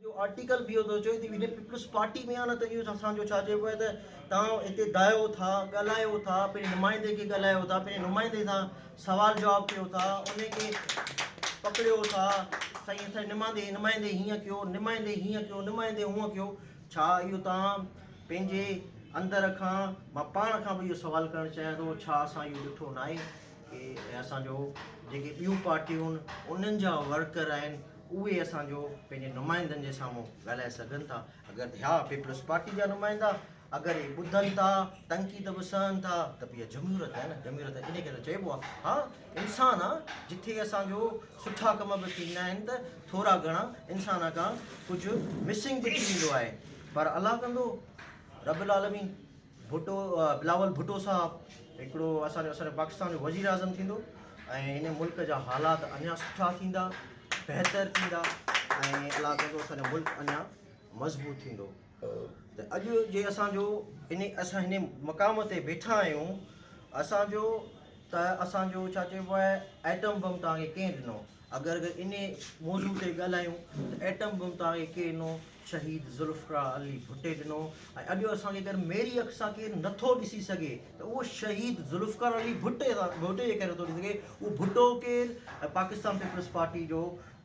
جو آرٽيڪل به اهو ٿو چوي ته يونين پيپلز پارٽي ۾ آ نه ته اهو اسان جو ڇا چئبو آهي ته تهان هتي دايو ٿا ڳالهايو ٿا پنهنجي نمائندي کي ڳالهايو ٿا پنهنجي نمائندي سان سوال جواب ڪيو ٿا ان کي پڪڙيو ٿا سائين اسان جي نمائندي نمائندي هيئن ڪيو نمائندي هيئن ڪيو نمائندي هونئن ڪيو ڇا اهو تهان پنهنجي اندر کان مان پاڻ کان به اهو سوال ڪرڻ چاهيان ٿو ڇا اسان اهو ڏٺو ناهي ڪي اسان جو جيڪي ٻيون پارٽيون انهن جا ورڪر آهن اهي اسان جو پنهنجي نمائندن جي سامهون ڳالهائي سگهن ٿا اگر ٿيا پيپلز پارٽي جا نمائندا اگر اهي ٻڌن ٿا تنقيد به سهن ٿا ته به اها جمهوريت آهي نه جمهوريت ان کي ته چئبو آهي ها انسان آ جتي اسان جو سٺا ڪم به ٿيندا آهن ته ٿورا گهڻا انسان کان ڪجهه مسنگ به ٿي ويندو آهي پر الله ڪندو رب العالمين ڀٽو، بلاول ڀٽو صاحب هڪڙو اسان جو اسان پاڪستان جو وزير اعظم ٿيندو ۽ هن ملڪ جا حالات اڃان سٺا ٿيندا بهتر ٿيندا ۽ الله ڪندو اسان جو ملڪ اڃان مضبوط ٿيندو ته اڄ جي اسان جو ان اسان هن مقام تي بيٺا آهيون اسان جو ته اسان جو ڇا چئبو آهي ايٽم بم تان کي ڪنهن ڏنو اگر ان موضوع تي ڳالهايون ته ايٽم بم تان کي ڪنهن ڏنو شهيد ذوالفقراء علي ڀٽي ڏنو ۽ اڄ اسان جي ڪري ميري اک سان ڪير نٿو ڏسي سگهي ته اهو شهيد ذوالفقار علي ڀٽي سان ڀٽي جي ڪري نٿو ڏسي سگهي اهو ڀٽو ڪير ۽ پاڪستان پيپلز پارٽي جو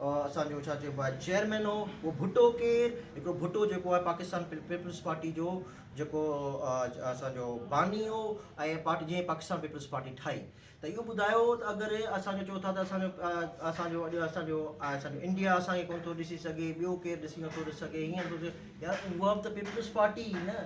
اسان جو ڇا چئبو آهي چيئرمين هو اهو ڀٽو ڪير هڪڙو ڀٽو جيڪو آهي پاڪستان پيپلز پارٽي جو جيڪو اسان جو باني هو ۽ پارٽي جنهن پاڪستان پيپلز پارٽي ٺاهي ته اهو ٻڌايو ته اگر اسان جو چئو ٿا ته اسان جو اسان جو اڄ اسان جو اسان جو انڊيا اسان کي ڪونه ٿو ڏسي سگهي ٻيو ڪير ڏسي نٿو ڏسي سگهي هيئن نٿو ٿئي يار هو به ته پيپلز پارٽي ئي نه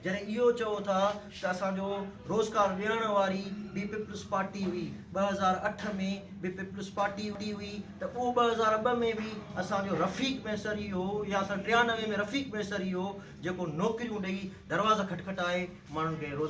جڏهن اهو چئو ٿا ته اسان جو روزگار ڏيڻ واري به پيپلز پارٽي هئي ٻه هزار اٺ ۾ به پيپلز پارٽي هوندي هئي ته اهو ٻه هزار ٻه ۾ به اسان جو رفيق ميسر ئي هو يا سن ٽيانوي ۾ رفيق ميسر ئي هو جيڪو نوڪريون ڏئي دروازا کٽکٽائي ماڻهن کي روزگار